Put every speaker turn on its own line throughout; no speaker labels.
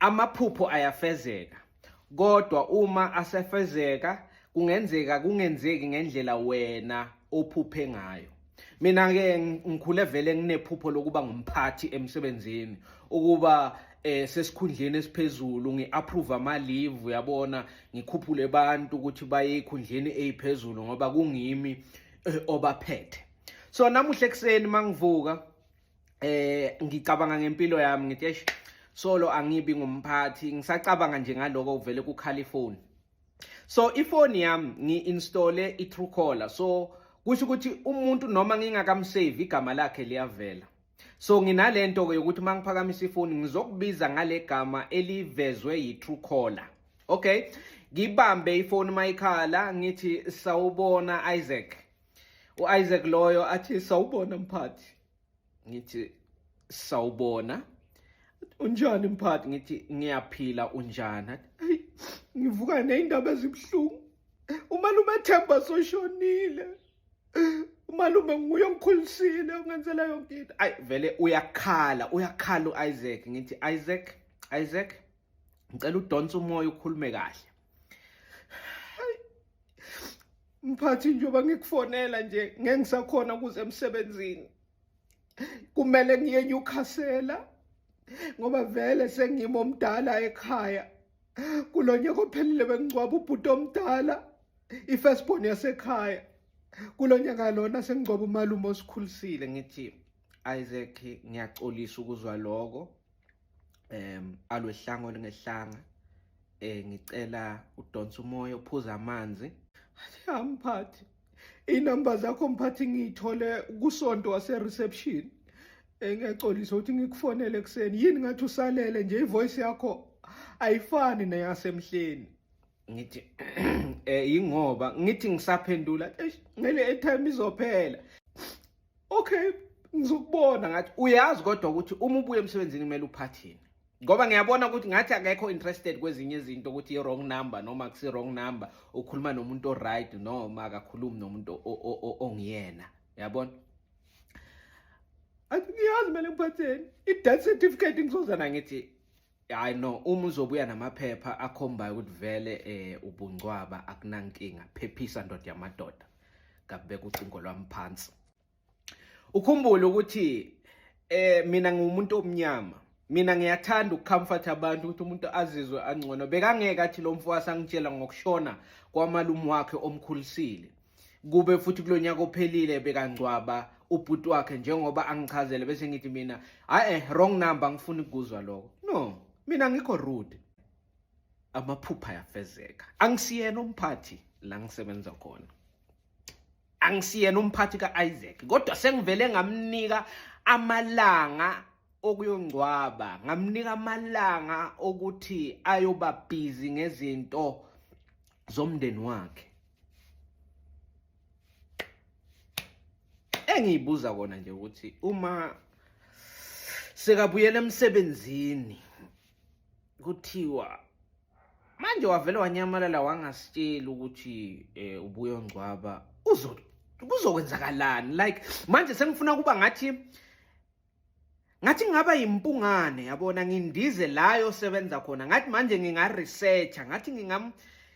Amaphupho ayafezeka kodwa uma asefezeka kungenzeka kungenzeki ngendlela wena ophuphe ngayo. Mina ke ngikhule vele nginephupho lokuba ngumphathi emsebenzini ukuba eh sesikhundleni esiphezulu ngiapprove ama leave uyabona ngikhuphule abantu ukuthi baye ekhundleni eziphezulu ngoba kungimi eh, obaphethe so namuhle ekseni mangivuka eh ngicabanga ngempilo yami ngithi eish solo angibi ngumphathi ngisacabanga nje ngaloko kuvele kukhala ifoni so ifoni yami ngi-installe i-truecaller so kusho ukuthi umuntu noma ngingakamsave igama lakhe liyavela so nginale nto-ke yokuthi uma ngiphakamisa ifoni ngizokubiza ngale gama elivezwe yi-truecaller okay ngibambe ifoni mayikhala ngithi sawubona isaac U-Isaac loyo athi sawubona mphathi ngithi sawubona unjani mphathi ngithi ngiyaphila unjani hey ngivuka nezindaba ezibuhlungu umalume Themba soshonile umalume nguye ongikhulisile ongenzela yonke into ayi vele uyakhala uyakhala u-Isaac ngithi Isaac Isaac ngicela udonse umoya ukhulume kahle mphathi njengoba ngikufonela nje ngeke ngisakhona ukuze emsebenzini kumele ngiye nyukhasela ngoba vele sengimo omdala ekhaya kulo nyaka ophelile bengingcwaba ubhuti omdala ifirstborn yasekhaya kulo nyaka lona sengingcwaba umalume osikhulisile ngithi isaac ngiyaxolisa ukuzwa lokho em alwehlanga olingehlanga eh ngicela udonsa umoya uphuza amanzi amphathi inamba zakho mphathi ngiyithole kusonto wase reception engiyaxolisa ukuthi ngikufonele ekuseni yini ngathi usalele nje ivoice yakho ayifani neyasemhleni ngithi eh ingoba ngithi ngisaphendula ngele airtime izophela okay ngizokubona ngathi uyazi kodwa ukuthi uma ubuye emsebenzini kumele uphathini ngoba ngiyabona ukuthi ngathi akekho interested kwezinye izinto ukuthi i-wrong number noma kusi-wrong number ukhuluma nomuntu o-right noma akakhulumi nomuntu ongiyena yabona athi ngiyazi kumele ngiphatheni i-death certificate ngizoza nangithi hayi no uma uzobuya namaphepha akhombayo ukuthi vele eh ubungcwaba akunankinga phephisa ndoda yamadoda ngabeka ucingo lwami phansi ukhumbule ukuthi eh mina ngiwumuntu omnyama mina ngiyathanda ukucomfort abantu ukuthi umuntu azizwe angcono bekangeke athi lo mfo wasangitshela ngokushona kwamalume wakhe omkhulisile kube futhi kulonyaka ophelile bekangcwaba ubhuti wakhe njengoba angichazele bese ngithi mina hayi eh wrong number ngifuna ukuzwa lokho no mina ngikho rude amaphupha yafezeka angisiyena umphathi la ngisebenza khona angisiyena umphathi ka-isaac kodwa sengivele ngamnika amalanga okuyongcwaba ngamnika amalanga okuthi ayoba busy ngezinto zomndeni wakhe engiyibuza kona nje ukuthi uma sekabuyela emsebenzini kuthiwa manje wavele wanyamalala wangasitsheli ukuthi eh ubuye ongcwaba uzokwenzakalani like manje sengifuna kuba ngathi ngathi ngaba yimpungane yabona ngindize la yosebenza khona ngathi manje nginga researcher ngathi ngingam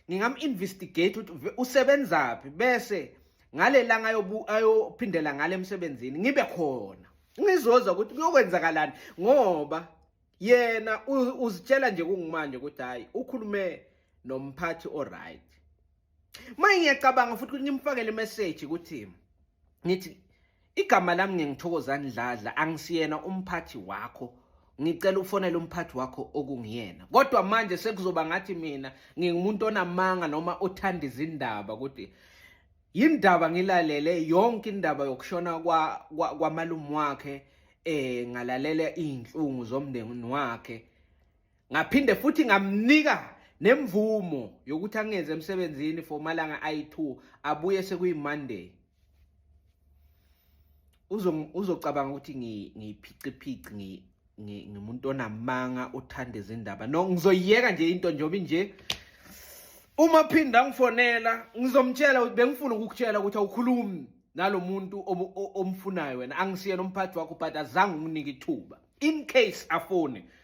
ngingam investigate ukuthi usebenzaphi bese ngalelanga ayophindela ngale emsebenzini ngibe khona ngizozwa ukuthi kuyokwenzakalani ngoba yena uzitshela nje kungimanje ukuthi hayi ukhulume nomphathi oright Manje ngiyacabanga futhi ukuthi ngimfakele message ukuthi ngithi igama lami ngengithokozani dladla angisiyena umphathi wakho ngicela ufonele umphathi wakho okungiyena kodwa manje sekuzoba ngathi mina ngingumuntu onamanga noma othanda izindaba ukuthi yindaba ngilalele yonke indaba yokushona kwa kwamalume wakhe eh ngalalela izinhlungu zomndeni wakhe ngaphinde futhi ngamnika nemvumo yokuthi angenze emsebenzini for malanga ayi2 abuye sekuyi Monday uzo uzocabanga ukuthi ngiphiqiphiqi ngi ngimuntu onamanga othanda izindaba no ngizoyiyeka nje into njobi nje uma phinda ngifonela ngizomtshela ukuthi bengifuna ukukutshela ukuthi awukhulumi nalomuntu omfunayo wena angisiyena umphathi wakho but azange unginike ithuba in case afone